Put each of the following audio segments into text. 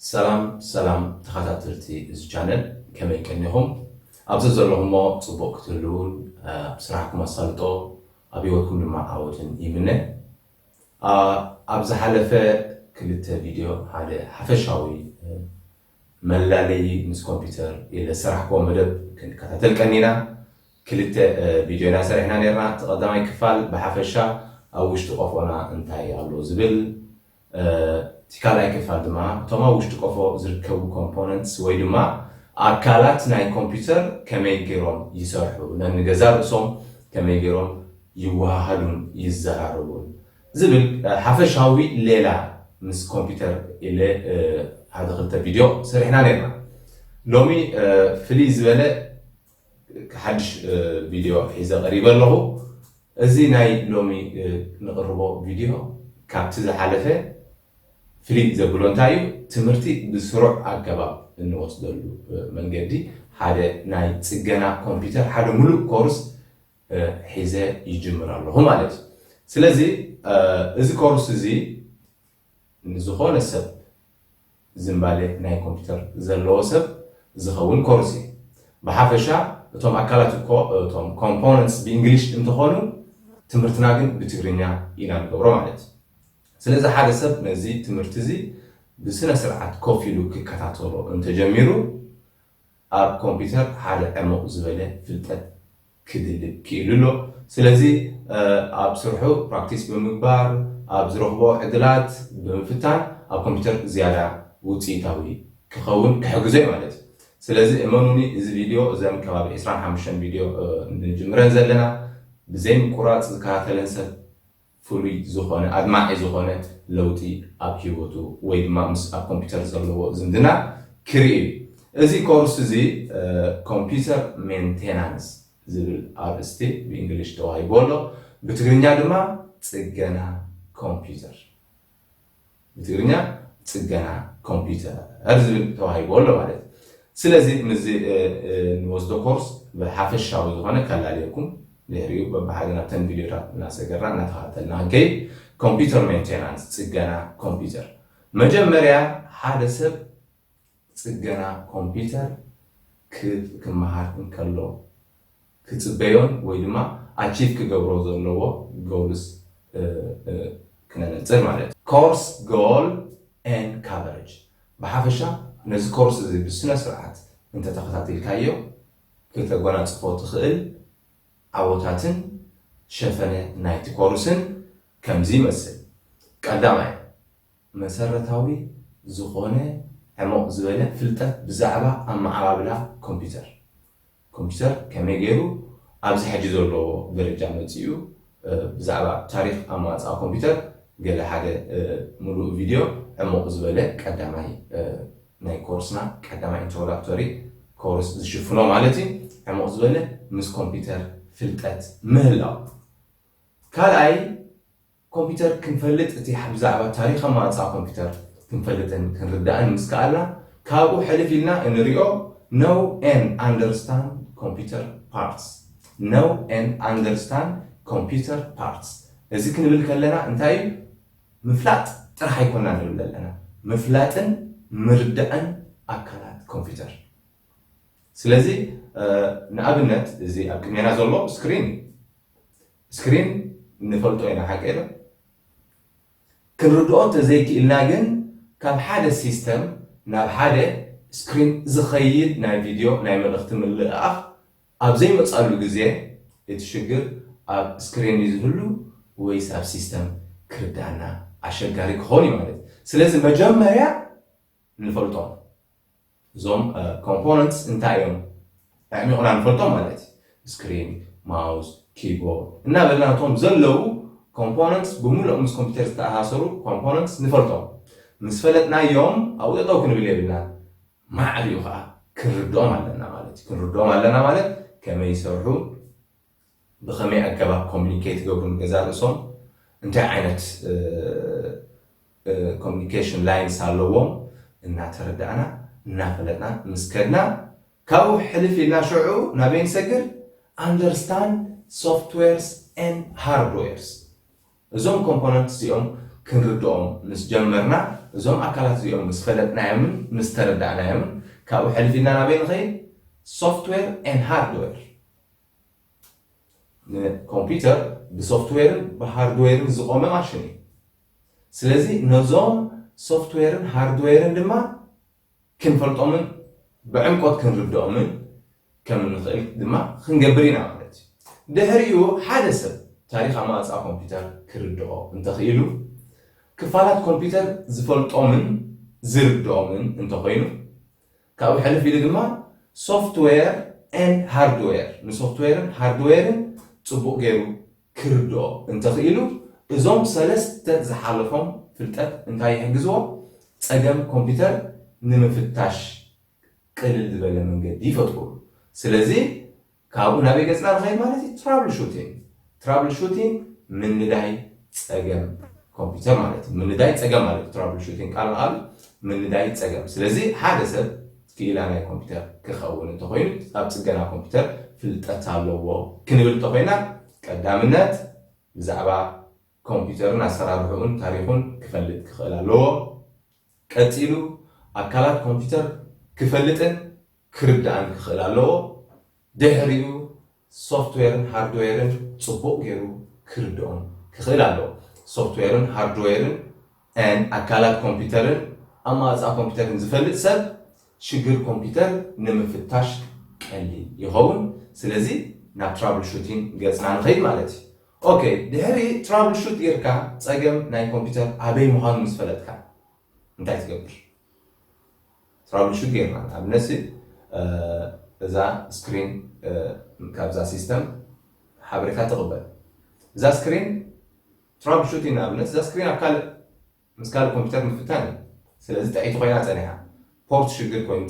ሰላም ሰላም ተኸታተልቲ እዚ ቻነል ከመይ ቀኒኹም ኣብዚ ዘለኹሞ ፅቡቕ ክትህልውን ኣብ ስራሕኩም ኣሳልጦ ኣብ ሂወትኩም ድማ ዓወትን ይምነ ኣብ ዝሓለፈ ክልተ ቪድዮ ሓደ ሓፈሻዊ መላለይ ምስ ኮምፒውተር ኢለ ሰራሕኮ መደብ ክንከታተል ቀኒና ክልተ ቪድዮ ኢና ሰሪሕና ነርና እቲ ቀዳማይ ክፋል ብሓፈሻ ኣብ ውሽጢ ቆፎና እንታይ ኣሎ ዝብል እቲ ካልኣይ ክፋል ድማ እቶም ኣብ ውሽጢ ቆፎ ዝርከቡ ኮምፖነንትስ ወይ ድማ ኣካላት ናይ ኮምፒውተር ከመይ ገይሮም ይሰርሑ ነንገዛ ርእሶም ከመይ ገይሮም ይወሃሃዱን ይዘራረቡን ዝብል ሓፈሻዊ ሌላ ምስ ኮምፒውተር ኢለ ሓደ ክልተ ቪድዮ ሰሪሕና ነይርና። ሎሚ ፍልይ ዝበለ ሓድሽ ቪድዮ ሒዘ ቀሪበ ኣለኹ። እዚ ናይ ሎሚ ንቕርቦ ቪድዮ ካብቲ ዝሓለፈ ፍልይ ዘብሎ እንታይ እዩ፣ ትምህርቲ ብስሩዕ ኣገባብ እንወስደሉ መንገዲ ሓደ ናይ ጽገና ኮምፒተር ሓደ ምሉእ ኮርስ ሒዘ ይጅምር ኣለኹ ማለት እዩ። ስለዚ እዚ ኮርስ እዚ ንዝኾነ ሰብ ዝምባሌ ናይ ኮምፒተር ዘለዎ ሰብ ዝኸውን ኮርስ እዩ። ብሓፈሻ እቶም ኣካላት እኮ እቶም ኮምፖነንትስ ብእንግሊሽ እንተኾኑ ትምህርትና ግን ብትግርኛ ኢና ንገብሮ ማለት እዩ። ስለዚ ሓደ ሰብ ነዚ ትምህርቲ እዚ ብስነ ስርዓት ኮፍ ኢሉ ክከታተሎ እንተጀሚሩ ኣብ ኮምፒተር ሓደ ዕሙቕ ዝበለ ፍልጠት ክድልብ ክኢሉ ኣሎ። ስለዚ ኣብ ስርሑ ፕራክቲስ ብምግባር ኣብ ዝረኽቦ ዕድላት ብምፍታን ኣብ ኮምፒተር ዝያዳ ውጽኢታዊ ክኸውን ክሕግዞ እዩ ማለት እዩ። ስለዚ እመኑኒ እዚ ቪድዮ እዘን ከባቢ ዕስራን ሓሙሽተን ቪድዮ ንጅምረን ዘለና ብዘይምቁራጽ ዝከታተለን ሰብ ፍሉይ ዝኾነ ኣድማዒ ዝኾነት ለውጢ ኣብ ሂወቱ ወይ ድማ ምስ ኣብ ኮምፒተር ዘለዎ ዝምድና ክርኢ እዩ። እዚ ኮርስ እዚ ኮምፒተር ሜንቴናንስ ዝብል ኣርእስቲ ብእንግሊሽ ተዋሂብዎ ኣሎ። ብትግርኛ ድማ ፅገና ኮምፒተር። ብትግርኛ ጽገና ኮምፒዩተር ዝብል ተዋሂቡ ኣሎ ማለት እዩ። ስለዚ ምስዚ ንወስዶ ኮርስ ብሓፈሻዊ ዝኾነ ከላልየኩም ድሕሪ እዩ በብሓደ ናብተን ቪድዮታት እናሰገርና እናተኸታተልና ክንከይድ። ኮምፒዩተር ሜንቴናንስ ጽገና ኮምፒዩተር መጀመርያ ሓደ ሰብ ጽገና ኮምፕዩተር ክመሃር እንከሎ ክጽበዮን ወይ ድማ ኣቺቭ ክገብሮ ዘለዎ ጎልስ ክነነጽር ማለት እዩ። ኮርስ ጎል ኤን ካቨረጅ ብሓፈሻ ነዚ ኮርስ እዚ ብስነ ስርዓት እንተተኸታቲልካዮ ክተጎናጽፎ ትኽእል ዓወታትን ሸፈነ ናይቲ ኮርስን ከምዚ ይመስል። ቀዳማይ። መሰረታዊ ዝኾነ ዕሙቕ ዝበለ ፍልጠት ብዛዕባ ኣመዓባብላ ኮምፒዩተር፣ ኮምፒዩተር ከመይ ገይሩ ኣብዚ ሕጂ ዘለዎ ደረጃ መጺኡ፣ ብዛዕባ ታሪኽ ኣመዋጽኣ ኮምፒዩተር ገለ ሓደ ምሉእ ቪድዮ ዕሙቕ ዝበለ ቀዳማይ ናይ ኮርስና ቀዳማይ ኢንትሮዳክቶሪ ኮርስ ዝሽፍኖ ማለት እዩ ዕሙቕ ዝበለ ምስ ኮምፒዩተር ፍልጠት ምህላው ካልኣይ ኮምፒተር ክንፈልጥ እቲ ብዛዕባ ታሪኽ ኣመኣጽኣ ኮምፒተር ክንፈልጥን ክንርዳእን ምስ ከኣልና ካብኡ ሕልፍ ኢልና እንሪኦ Know and Understand Computer Parts Know and Understand Computer Parts እዚ ክንብል ከለና እንታይ እዩ ምፍላጥ ጥራሕ ኣይኮናን ንብል ዘለና ምፍላጥን ምርዳእን ኣካላት ኮምፒተር ስለዚ ንኣብነት እዚ ኣብ ቅድሜና ዘሎ ስክሪን እዩ ስክሪን ንፈልጦ ኢና ሓቀይ ዶ? ክንርድኦ እንተዘይኪኢልና ግን ካብ ሓደ ሲስተም ናብ ሓደ ስክሪን ዝኸይድ ናይ ቪድዮ ናይ መልእኽቲ ምልእኣኽ ኣብ ዘይመጽኣሉ ግዜ እቲ ሽግር ኣብ ስክሪን ድዩ ዝህሉ ወይስ ኣብ ሲስተም ክርድኣና ኣሸጋሪ ክኸውን እዩ ማለት እዩ። ስለዚ መጀመርያ ንፈልጦም እዞም ኮምፖነንትስ እንታይ እዮም ኣዕሚቑና ንፈልጦም ማለት እዩ ስክሪን ማውስ ኪቦርድ እናበልና እቶም ዘለዉ ኮምፖነንትስ ብምሉእ ምስ ኮምፒውተር ዝተኣሳሰሩ ኮምፖነንትስ ንፈልጦም ምስ ፈለጥናዮም ኣብኡ ጠጠው ክንብል የብልናን ማዕሪኡ ከዓ ክንርድኦም ኣለና ማለት እዩ ክንርድኦም ኣለና ማለት ከመይ ይሰርሑ ብኸመይ ኣገባብ ኮሙኒኬት ይገብሩ ንገዛእ ርእሶም? እንታይ ዓይነት ኮሙኒኬሽን ላይንስ ኣለዎም? እናተረዳእና እናፈለጥና ምስ ከድና ካብኡ ሕልፍ ኢልና ሽዑ ናበይ ንሰግር? ኣንደርስታንድ ሶፍትዌርስ ኤንድ ሃርድዌርስ። እዞም ኮምፖነንትስ እዚኦም ክንርድኦም ምስ ጀመርና፣ እዞም ኣካላት እዚኦም ምስ ፈለጥናዮምን ምስ ተረዳእናዮምን ካብኡ ሕልፍ ኢልና ናበይ ንኸይድ? ሶፍትዌር ኤንድ ሃርድዌር። ንኮምፒተር ብሶፍትዌርን ብሃርድዌርን ዝቆመ ማሽን እዩ ስለዚ ነዞም ሶፍትዌርን ሃርድዌርን ድማ ክንፈልጦምን ብዕምቆት ክንርድኦምን ከም ንኽእል ድማ ክንገብር ኢና ማለት እዩ ድሕሪኡ ሓደ ሰብ ታሪክ ኣማፃ ኮምፒተር ክርድኦ እንተኽኢሉ ክፋላት ኮምፒተር ዝፈልጦምን ዝርድኦምን እንተኾይኑ ካብኡ ሕልፍ ኢሉ ድማ ሶፍትዌር ኤንድ ሃርድዌር፣ ንሶፍትዌርን ሃርድዌርን ጽቡቕ ገይሩ ክርድኦ እንተኽኢሉ፣ እዞም ሰለስተ ዝሓለፎም ፍልጠት እንታይ ይሕግዝዎ? ጸገም ኮምፒተር ንምፍታሽ ቅልል ዝበለ መንገዲ ይፈጥሩሉ። ስለዚ ካብኡ ናበይ ገጽና ንኸይድ ማለት እዩ? ትራብል ሹቲንግ። ትራብል ሹቲንግ ምንዳይ ጸገም ኮምፒተር ማለት እዩ። ምንዳይ ጸገም ማለት እዩ። ትራብል ሹቲንግ ቃል ንቓል ምንዳይ ጸገም። ስለዚ ሓደ ሰብ ክኢላ ናይ ኮምፒተር ክኸውን እንተኾይኑ ኣብ ጽገና ኮምፒተር ፍልጠት ኣለዎ ክንብል እንተኾይና ቀዳምነት ብዛዕባ ኮምፒተርን ኣሰራርሕኡን ታሪኹን ክፈልጥ ክኽእል ኣለዎ። ቀጺሉ ኣካላት ኮምፒተር ክፈልጥን ክርዳእን ክኽእል ኣለዎ፣ ድሕሪኡ ሶፍትዌርን ሃርድዌርን ጽቡቕ ጌሩ ክርድኦም ክኽእል ኣለዎ። ሶፍትዌርን ሃርድዌርን and ኣካላት ኮምፒተርን ኣማውጻ ኮምፒተርን ዝፈልጥ ሰብ ሽግር ኮምፒተር ንምፍታሽ ቀሊል ይኸውን። ስለዚ ናብ ትራብልሹቲን ገጽና ንኸይድ ማለት እዩ። ኦኬ ድሕሪ ትራብል ሹት ጌርካ ጸገም ናይ ኮምፒተር ኣበይ ምዃኑ ምስ ፈለጥካ እንታይ ትገብር ትራብል ሹት ጌርና ንኣብነት እዛ ስክሪን ካብዛ ሲስተም ሓበሬታ ትቕበል እዛ ስክሪን ትራብል ሹት ንኣብነት እዛ ስክሪን ኣብ ካልእ ምስ ካልእ ኮምፒተር ምፍታን እዩ ስለዚ ጥዕይቲ ኮይና ጸኒሓ ፖርት ሽግር ኮይኑ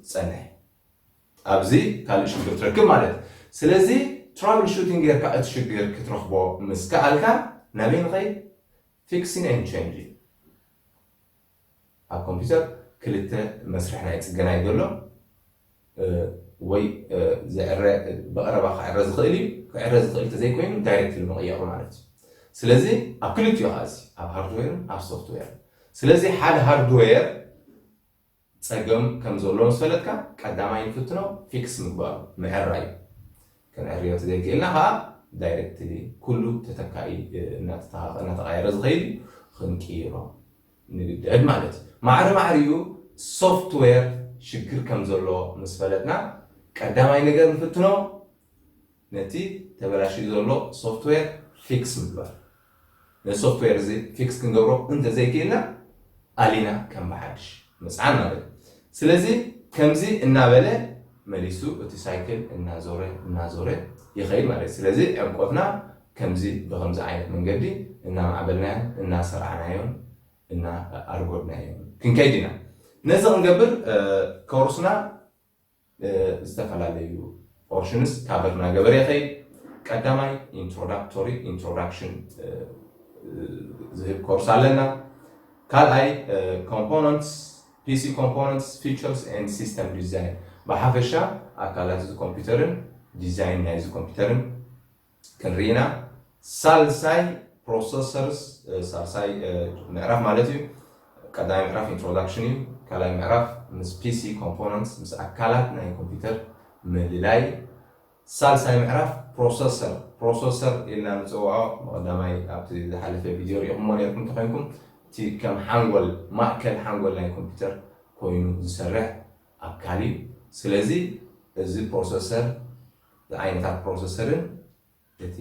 ትጸንሕ ኣብዚ ካልእ ሽግር ትረክብ ማለት እዩ ስለዚ ትራቭል ሹቲንግ ጌርካ እቲ ሽግር ክትረኽቦ ምስ ከኣልካ ናበይ ንኸይድ ፊክሲን ኤንድ ቼንጅ እዩ ኣብ ኮምፒተር ክልተ መስርሕ ናይ ጽገና እዩ ዘሎ ወይ ዝዕረ ብቐረባ ክዕረ ዝኽእል እዩ ክዕረ ዝኽእል እንተዘይኮይኑ ዳይሬክትሊ ምቕያሩ ማለት እዩ ስለዚ ኣብ ክልቲኡ ከዓ እዚ ኣብ ሃርድዌርን ኣብ ሶፍትዌር ስለዚ ሓደ ሃርድዌር ፀገም ከም ዘሎ ምስ ፈለጥካ ቀዳማይ ንፍትኖ ፊክስ ምግባሩ ምዕራይ ክንዕርዮ ተዘይክእልና ከዓ ዳይሬክትሊ ኩሉ ተተካኢ እናተተኻኸ እናተቐየረ ዝኸይድ እዩ ክንቅይሮ ንግደድ ማለት እዩ። ማዕረ ማዕሪኡ ሶፍትዌር ሽግር ከም ዘሎ ምስ ፈለጥና ቀዳማይ ነገር ንፍትኖ ነቲ ተበላሽዩ ዘሎ ሶፍትዌር ፊክስ ምግባር። ነዚ ሶፍትዌር እዚ ፊክስ ክንገብሮ እንተዘይክኢልና ኣሊና ከም ብሓድሽ ምጽዓን ማለት እዩ። ስለዚ ከምዚ እናበለ መሊሱ እቲ ሳይክል እናዞረ እናዞረ ይኸይድ ማለት እዩ። ስለዚ ዕምቆትና ከምዚ ብኸምዚ ዓይነት መንገዲ እናማዕበልናዮን እናሰርዓናዮን እናኣርጎድናዮን ክንከይድ ኢና። ነዚ ክንገብር ኮርስና ዝተፈላለዩ ፖርሽንስ ካቨር እናገበረ ይኸይድ። ቀዳማይ ኢንትሮዳክቶሪ፣ Introduction፣ ዝህብ ኮርስ ኣለና። ካልኣይ ኮምፖነንትስ፣ PC Components, Features and System Design፣ ብሓፈሻ ኣካላት እዚ ኮምፒተርን ዲዛይን ናይዚ ኮምፒተርን ክንሪኢና ሳልሳይ ፕሮሰሰርስ ሳልሳይ ምዕራፍ ማለት እዩ ቀዳማይ ምዕራፍ ኢንትሮዳክሽን እዩ ካልኣይ ምዕራፍ ምስ ፒሲ ኮምፖነንትስ ምስ ኣካላት ናይ ኮምፒውተር ምልላይ ሳልሳይ ምዕራፍ ፕሮሰሰር ፕሮሰሰር ኢልና ንፅውዖ መቐዳማይ ኣብቲ ዝሓለፈ ቪድዮ ሪኢኹምዎ ነርኩም ተኮይንኩም እቲ ከም ሓንጎል ማእከል ሓንጎል ናይ ኮምፒውተር ኮይኑ ዝሰርሕ ኣካል እዩ ስለዚ እዚ ፕሮሰሰር ንዓይነታት ፕሮሰሰርን እቲ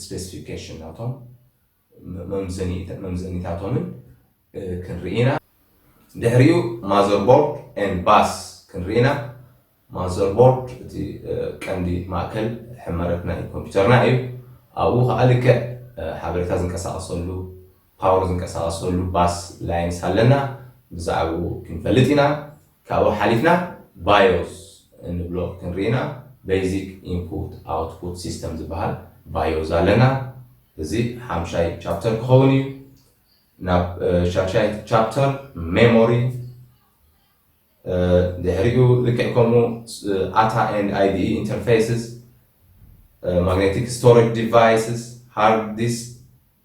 ስፔሲፊኬሽን ናቶም መምዘኒታቶምን ክንርኢ ኢና። ድሕሪኡ ማዘርቦርድ ኤንድ ባስ ክንርኢ ኢና። ማዘርቦርድ እቲ ቀንዲ ማእከል ሕመረት ናይ ኮምፒዩተርና እዩ። ኣብኡ ከኣ ልክዕ ሓበሬታ ዝንቀሳቐሰሉ ፓወር ዝንቀሳቀሰሉ ባስ ላይንስ ኣለና ብዛዕብኡ ክንፈልጥ ኢና ካብኡ ሓሊፍና ባዮስ እንብሎ ክንርኢ ኢና በይዚክ ኢንፑት ኣውትፑት ሲስተም ዝበሃል ባዮዝ ኣለና እዚ ሓምሻይ ቻፕተር ክኸውን እዩ ናብ ሻሻይ ቻፕተር ሜሞሪ ድሕሪኡ ልክዕ ከምኡ ኣታ ኤንድ ኣይዲኢ ኢንተርፌስስ ማግኔቲክ ስቶሬጅ ዲቫይስስ ሃርድ ዲስክ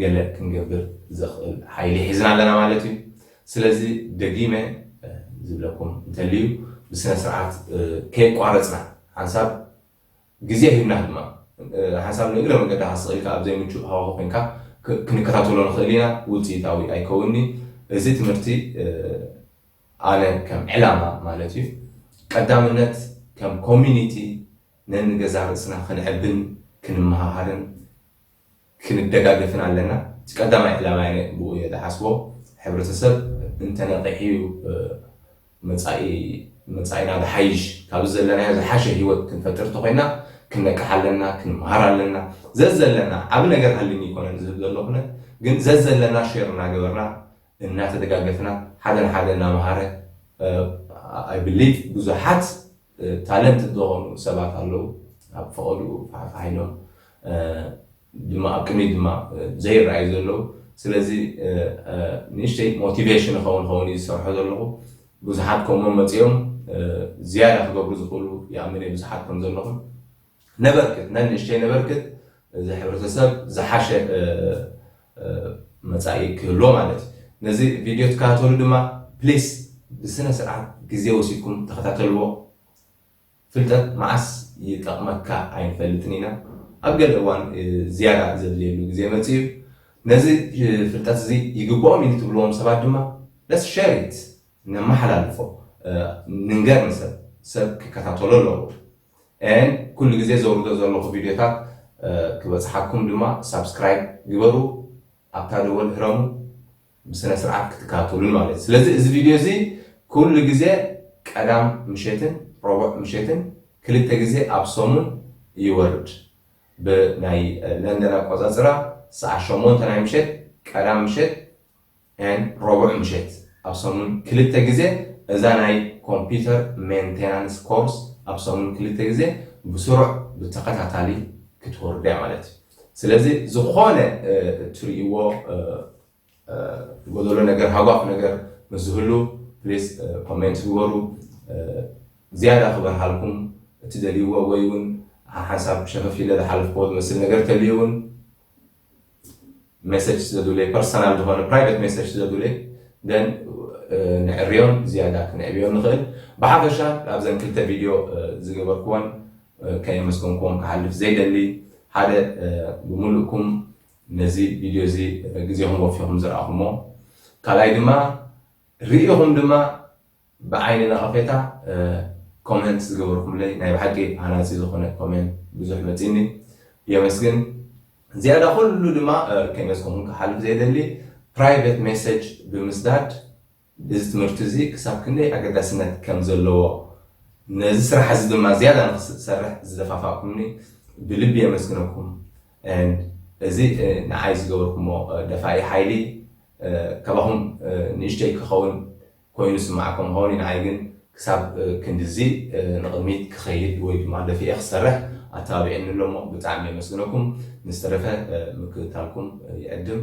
ገለ ክንገብር ዘኽእል ሓይሊ ሒዝና ኣለና ማለት እዩ። ስለዚ ደጊመ ዝብለኩም እንተልዩ ብስነ ስርዓት ከየቋረጽና ሓንሳብ ግዜ ሂብና ድማ ሓንሳብ ንእግረ መንገድኻ ስቕ ኢልካ ኣብ ዘይምቹእ ሃዋሁ ኮንካ ክንከታተሎ ንኽእል ኢና፣ ውጽኢታዊ ኣይከውንን እዩ። እዚ ትምህርቲ ኣነ ከም ዕላማ ማለት እዩ ቀዳምነት ከም ኮሚኒቲ ነንገዛ ርእስና ክንዕብን ክንመሃሃርን፣ ክንደጋገፍን ኣለና እቲ ቀዳማይ ዕላማይ ኣነ ብኡ እየ ዝሓስቦ ሕብረተሰብ እንተነቂሑ እዩ መፃኢ መፃኢና ዝሓይሽ ካብዚ ዘለናዮ ዝሓሸ ሂወት ክንፈጥር እንተኮይና ክንነቅሕ ኣለና ክንምሃር ኣለና ዘዘለና ዓቢ ነገር ሃልዩኒ ኣይኮነን ዝህብ ዘለኩነ ግን ዘዘለና ሼር እናገበርና እናተደጋገፍና ሓደ ንሓደ እናምሃረ I believe ብዙሓት ታለንትድ ዝኾኑ ሰባት ኣለዉ ኣብ ፈቐድኡ ፋሕፋሕ ኢሎም ድማ ኣብ ቅድሚት ድማ ዘይረኣዩ ዘለዉ ስለዚ ንእሽተይ ሞቲቬሽን ይኸውን ይኸውን እዩ ዝሰርሖ ዘለኹ ብዙሓት ከምኡ መፂኦም ዝያዳ ክገብሩ ዝኽእሉ ይኣምን እየ ብዙሓት ከም ዘለኹም ነበርክት ነንእሽተይ ነበርክት እዚ ሕብረተሰብ ዝሓሸ መጻኢ ክህልዎ ማለት እዩ። ነዚ ቪድዮ ትከታተሉ ድማ ፕሊስ ብስነ ስርዓት ግዜ ወሲድኩም ተኸታተልዎ። ፍልጠት መዓስ ይጠቕመካ ኣይንፈልጥን ኢና። ኣብ ገለ እዋን ዝያዳ ዘድልየሉ ግዜ መጺኡ እዩ። ነዚ ፍልጠት እዚ ይግብኦም እዩ ንትብልዎም ሰባት ድማ ለትስ ሸር ኢት ነመሓላልፎ። ንንገር ንሰብ ሰብ ክከታተሎ ኣለዎ። and ኩሉ ግዜ ዘውርዶ ዘለኹ ቪድዮታት ክበጽሓኩም ድማ ሳብስክራይብ ግበሩ ኣብታ ደወል ህረሙ ብስነ ስርዓት ክትካተሉን ማለት ስለዚ እዚ ቪድዮ እዚ ኩሉ ግዜ ቀዳም ምሸትን ረቡዕ ምሸትን ክልተ ግዜ ኣብ ሰሙን ይወርድ ብናይ ለንደን ኣቆጻጽራ ሰዓ ሸሞንተ ናይ ምሸት ቀዳም ምሸት and ረቡዕ ምሸት ኣብ ሰሙን ክልተ ግዜ እዛ ናይ ኮምፒተር ሜንቴናንስ ኮርስ ኣብ ሰሙን ክልተ ግዜ ብስሩዕ ብተኸታታሊ ክትወርዱ እያ ማለት እዩ ስለዚ ዝኾነ እትርእይዎ ጎደሎ ነገር ሃጓፍ ነገር ምስ ዝህሉ ፕሊስ ኮሜንት ግበሩ ዝያዳ ክበርሃልኩም እትደልይዎ ወይ እውን ሓንሳብ ሸፈፍ ኢለ ዝሓለፍክዎ ዝመስል ነገር ተልዩ እውን ሜሰጅ ስለ ዝብለይ ፐርሰናል ዝኾነ ፕራይቨት ሜሰጅ ስለ ዝብለይ ደን ንዕርዮን ዝያዳ ክንዕብዮ ንኽእል ብሓፈሻ ኣብዘን ክልተ ቪድዮ ዝገበርክወን ከየመስገንክዎም ክሓልፍ ዘይደሊ ሓደ ብምሉእኩም ነዚ ቪድዮ እዚ ግዜኹም ወፊኹም ዝረኣኹሞ ካልኣይ ድማ ርኢኹም ድማ ብዓይኒ ነቐፌታ ኮሜንት ዝገበርኩምለይ ናይ ብሓቂ ሃናጺ ዝኾነ ኮሜንት ብዙሕ መጺኒ የመስግን ዝያዳ ኩሉ ድማ ከይመጽኩኹም ክሓልፍ ዘይደሊ ፕራይቨት ሜሰጅ ብምስዳድ እዚ ትምህርቲ እዚ ክሳብ ክንደይ ኣገዳስነት ከም ዘለዎ ነዚ ስራሕ እዚ ድማ ዝያዳ ንክሰርሕ ዝደፋፋእኩምኒ ብልቢ የመስግነኩም and እዚ ንዓይ ዝገበርኩሞ ደፋኢ ሓይሊ ካባኹም ንእሽተይ ክኸውን ኮይኑ ዝስምዓኩም ክኸውን እዩ፣ ንዓይ ግን ክሳብ ክንድዚ ንቕድሚት ክኸይድ ወይ ድማ ደፊኤ ክሰርሕ ኣተባቢዑኒ ኣሎ እሞ ብጣዕሚ የመስግነኩም፣ ንዝተረፈ ምክትታልኩም ይዕድም።